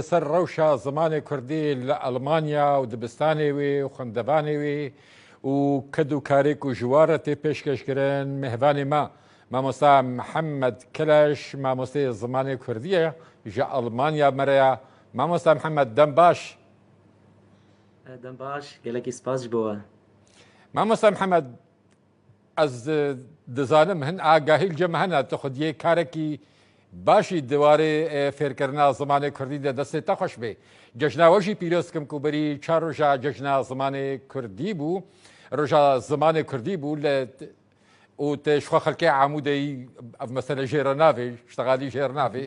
Li ser rewşa zimanê kurdî li Elmanya û dibistanê wê û xwendevanê wê û ked û karê ku ji wan re tê pêşkeş kirin mêvanê me mamosta Mihemed Keleş mamosteyê zimanê kurdî ye ji Elmanya me re ye. Mamosta Mihemed dem baş. Dem baş, gelekî spas ji bo we. Mamosta Mihemed, Ez dizanim hin agahî li cem me hene, tu xwediyê karekî başî di warê fêrkirina zimanê kurdî de destê te xweş bê. Cejna we jî pîroz dikim ku berî çar roja cejna zimanê kurdî bû, roja zimanê kurdî bû li û te ji xwe xelkê Amûdeyî ev mesele jê re navê, ştegalî jê re navê.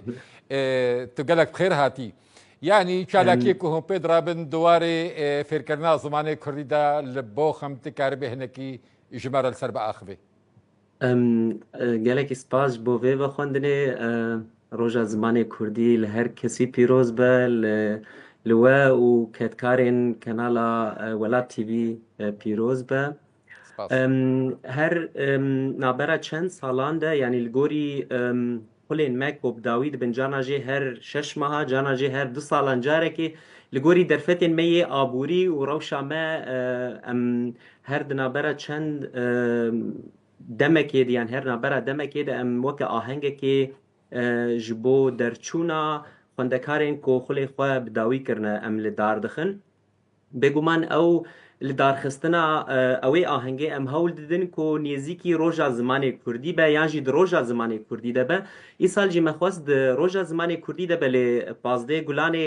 Tu gelek bi xêr hatî. Yanî çalakiyê ku hûn pê dirabin di warê fêrkirina zimanê kurdî de li bo xim ti karibî hinekî ji me re li ser biaxivî. Gelekî spas ji bo vê vexwendinê. Roja Zimanê Kurdî li her kesî pîroz be, li we û kedkarên Kanala Welat TV pîroz be. Spas. Her navbera çend salan de yanî li gorî xulên me ku bi dawî dibin cana jê her şeş meha cana jê her du salan carekê li gorî derfetên me yê aborî û rewşa me em her di navbera çend demekê de yan her navbera demekê de em weke ahengekê ji bo derçûna xwendekarên ku xulê xwe bi dawî kirine em li dar dixin. Bêguman ew li darxistina wê ahengê em hewl didin ku nêzîkî roja zimanê kurdî be yan jî di roja zimanê kurdî de be. Îsal jî me xwest di roja zimanê kurdî de be lê pazdeh gulanê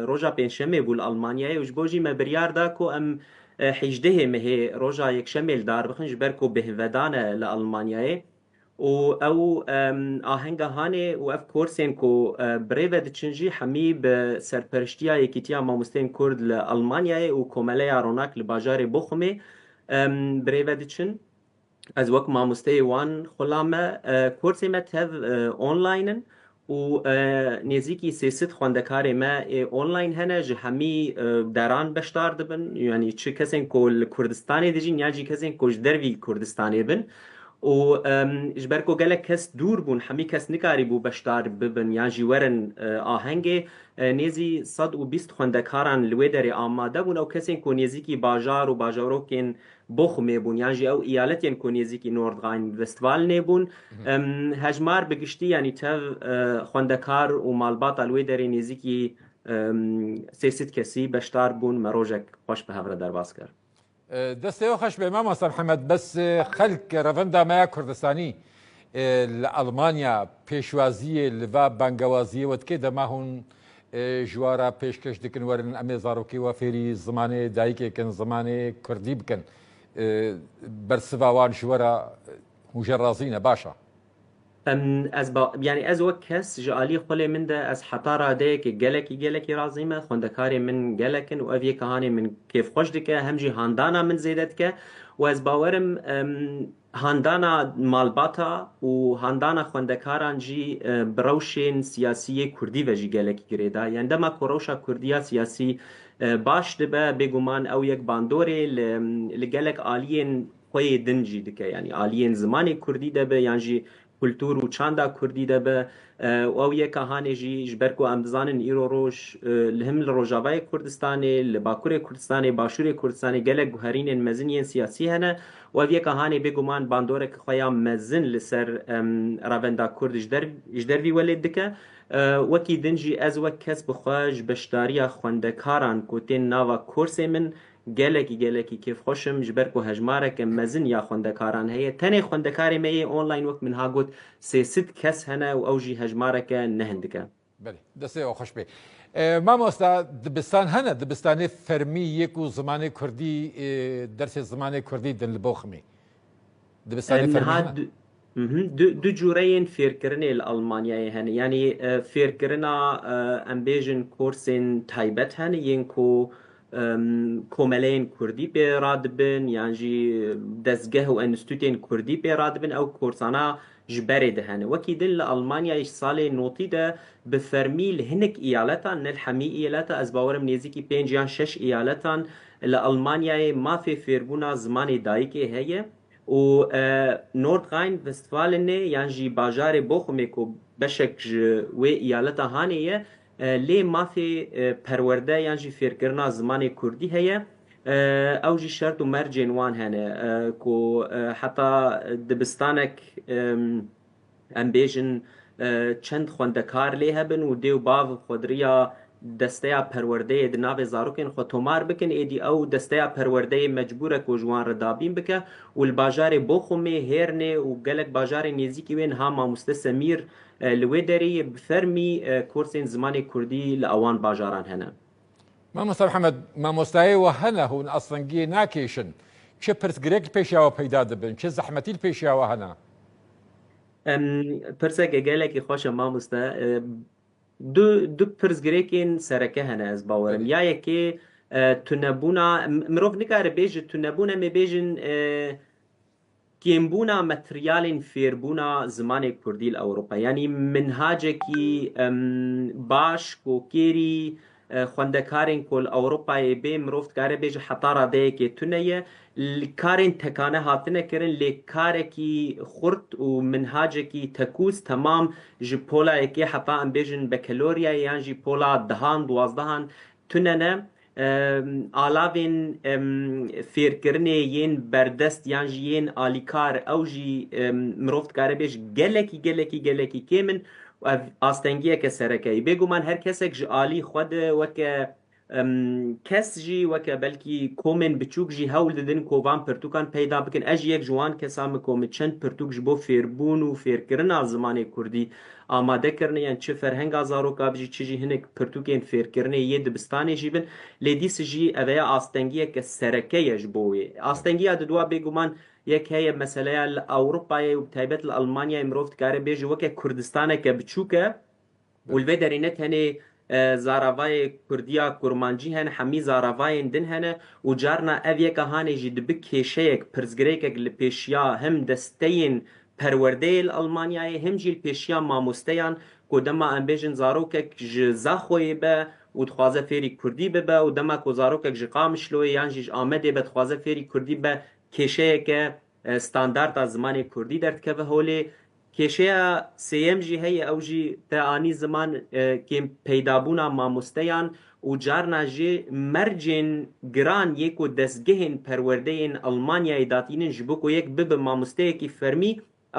roja pêncşemê bû li Almanyayê û ji bo jî me biryar da ku em hêjdehê mehê roja yekşemê li dar bixin ji ber ku bêhnvedan e li Almanyayê. û ew ahenga hanê û ev korsên ku bi rê ve diçin jî hemî bi serperiştiya Yekîtiya Mamosteyên Kurd li Elmanyayê û Komeleya Ronak li bajarê Boxumê bi rê ve diçin. Ez wek mamosteyê wan xwe la me korsê me tev online in û nêzîkî sê sed xwendekarê me ê online hene ji hemî deran beşdar dibin yanî çi kesên ku li Kurdistanê dijîn yan jî kesên ku ji dervî li Kurdistanê bin û ji ber ku gelek kes dûr bûn hemî kes nikarîbû beşdar bibin yan jî werin ahengê nêzî sed û bîst xwendekaran li wê derê amade bûn ew kesên ku nêzîkî bajar û bajarokên Bochum ê bûn yan jî ew îyaletên ku nêzîkî Nordrhein-Westfalen nê bûn. Hejmar bi giştî yanî tev xwendekar û malbata li wê derê nêzîkî sê sîd kesî beşdar bûn. Me rojek xweş bi hev re derbas kir. Destê we xweş be Mama Serhemed, bes xelk revenda me ya Kurdistanî li Elmanya pêşwaziyê li va bangewaziyê we dike dema hûn Ji we re pêşkêş dikin werin em ê zarokê we fêrî zimanê dayikê kin, zimanê kurdî bikin. Bersiva wan ji we re hûn jê razî ne, baş e. Ez ba, yanî ez wek kes ji aliyê xwelê min de ez heta radeyekê gelekî gelekî razî me. Xwendekarê min gelek in û ev yê ka hanê min kêfxweş dike, hem jî handana min zêde dike û ez bawer im, Handana malbata û handana xwendekaran jî bi rewşên siyasî yê kurdî ve jî gelekî girêda yen. Dema ku rewşa kurdî ya siyasî baş dibe bêguman ew yek bandorê li gelek aliyên xwe yê din jî dike. Yanî aliyên zimanê kurdî de be yan jî kultur û çanda kurdî de be û ew yek a hanê jî ji ber ku em dizanin îro roj li him li rojavayê Kurdistanê, li bakurê Kurdistanê, başûrê Kurdistanê gelek guherînên mezin yên siyasî hene û ev yek a hanê bêguman bandorek xwe ya mezin li ser ravenda kurd ji der vî welêt dike. Wekî din jî ez wek kes bi xwe ji beşdariya xwendekaran ku tên nava korsê min Gelekî gelekî kêfxweş im ji ber ku hejmareke mezin ya xwendekaran heye. Tenê xwendekarê me yê online wek min ha got sê sîd kes hene û ew jî hejmareke ne hindik e. Belê. Destê wan xweş bê. Mamosta dibistan hene dibistanê fermî yê ku zimanê kurdî dersê zimanê kurdî din li bo ximê? Dibistane fermî hene? Du cûreyên fêrkirinê li Elmanyayê hene. Yanî fêrkirina em bêjin korsên taybet hene yên ku komeleyên kurdî pê radibin yan jî dezgeh û enstîtûtên kurdî pê radibin ew korsana ji berê de hene. Wekî din li Elmanyayê ji salê notî de bi fermî li hinek îyaletan ne li hemî îyaleta ez bawerim nêzîkî pênc yan şeş îyaletan Li Elmanyayê mafê fêrbûna zimanê dayikê heye û Nordrhein Westfalenê yan jî bajarê Bochumê ku beşek ji wê îyaleta Hanê ye lê mafê perwerde yan jî fêrkirina zimanê kurdî heye ew jî şert û mercên wan hene ku heta dibistanek Em bêjin çend xwendekar lê hebin û dê û bav xwediriya desteya perwerdeyê di navê zarokên xwe tomar bikin, êdî ew desteya perwerdeyê mecbûr e ku ji wan re dabîn bike û li bajarê Boxumê, Hêrnê û gelek bajarên nêzîkî wê niha mamoste Semîr li wê derê ye, bi fermî kursên zimanê kurdî li awan bajaran hene. Mamosta Mihemed, mamostayê we hene hûn astengiyê nakêşin, çi pirsgirêk li pêşiya we peyda dibin, çi zehmetî li pêşiya we hene? Pirseke gelekî xweş e mamoste. Du du pirsgirêkên sereke hene ez bawerim. Ya yekê tunebûna, mirov nikare bê ji tunebûn em ê bêjin Kêmbûna materyalên fêrbûna zimanê kurdî li Ewropayê yanî minhacekî baş ku kêrî xwendekarên ku li Ewropayê bê mirov dikare bê ji heta radeyekê tune ye. Karên tekane hatine kirin lê karekî xurt û minhacekî tekûz temam ji pola yekê heta em bêjin bekaloryayê yan jî pola dehan, duwazdehan tune ne. Alavên fêrkirinê yên berdest yan jî yên alîkar ew jî mirov dikare bêje gelekî gelekî gelekî kêm in û ev astengiyeke sereke ye. Bêguman her kesek ji alî xwe de weke kes jî weke belkî komên biçûk jî hewl didin ku van pirtûkan peyda bikin. Ez jî yek ji wan kesan im ku min çend pirtûk ji bo fêrbûn û fêrkirina zimanê kurdî Amade kirine yên çi ferhenga zaroka bijî çi jî hinek pirtûkên fêrkirinê yê dibistanê jî bin. Lê dîs jî eve ya astengiyeke sereke ye ji bo wê. Astengiya diduwa bêguman yek heye meseleya li Ewropayê û bi taybet li Elmanyayê mirov dikare bêje weke Kurdistaneke biçûk e û li vê derê ne tenê Zaravayê Kurdiya Kurmancî hene, hemî zaravayên din hene û carna ev yeka hanê jî dibi kêşeyek, pirsgirêkek li pêşiya him desteyên perwerdeyê li Elmanyayê him jî li pêşiya mamosteyan ku dema em bêjin zarokek ji Zaxoyê be û dixwaze fêrî Kurdî bibe û dema ku zarokek ji Qamişloyê yan jî ji Amedê be dixwaze fêrî Kurdî bibe kêşeyeke Standard a zimanê kurdî derdikeve holê. Kêşeya sêyem jî heye ew jî te anî ziman kêm peydabûna mamosteyan û carna jî mercên giran yê ku destgehên perwerdeyên Elmanyayê datînin ji bo ku yek bibe mamosteyekî fermî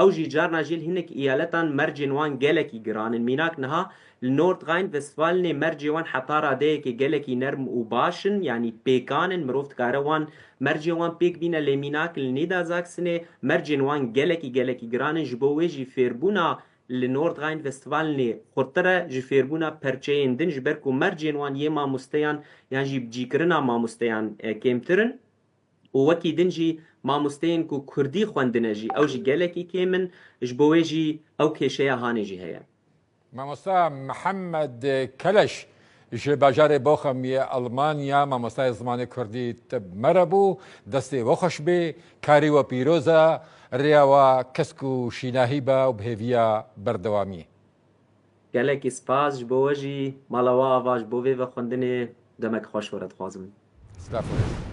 ew jî carna jî li hinek îyaletan mercên wan gelekî giran in mînak niha Li Nordrhein-Westfalenê mercê wan heta radeyekê gelekî nerm û baş in, yanî pêkan in, mirov dikare wan mercên wan pêk bîne lê mînak li Nîderzaksenê mercên wan gelekî gelekî giran in, ji bo wê jî fêrbûna li Nordrhein-Westfalenê xurttir e ji fêrbûna perçeyên din ji ber ku mercên wan yê mamosteyan yan jî bicîkirina mamosteyan kêmtir in. û wekî din jî mamosteyên ku kurdî xwendine jî ew jî gelekî kêm in, ji bo wê jî ew kêşeya hanê jî heye. Mamosta Mihemed Keleş ji bajarê Bochum yê Elmanya mamostayê zimanê kurdî tib mere bû. Destê we xweş bê, karê we pîroz e, rêya we kesk û şînahî be û bi hêviya berdewamiyê. Gelekî spas ji bo we jî mala we ava ji bo vê vexwendinê demek xweş were dixwazim. Spas were.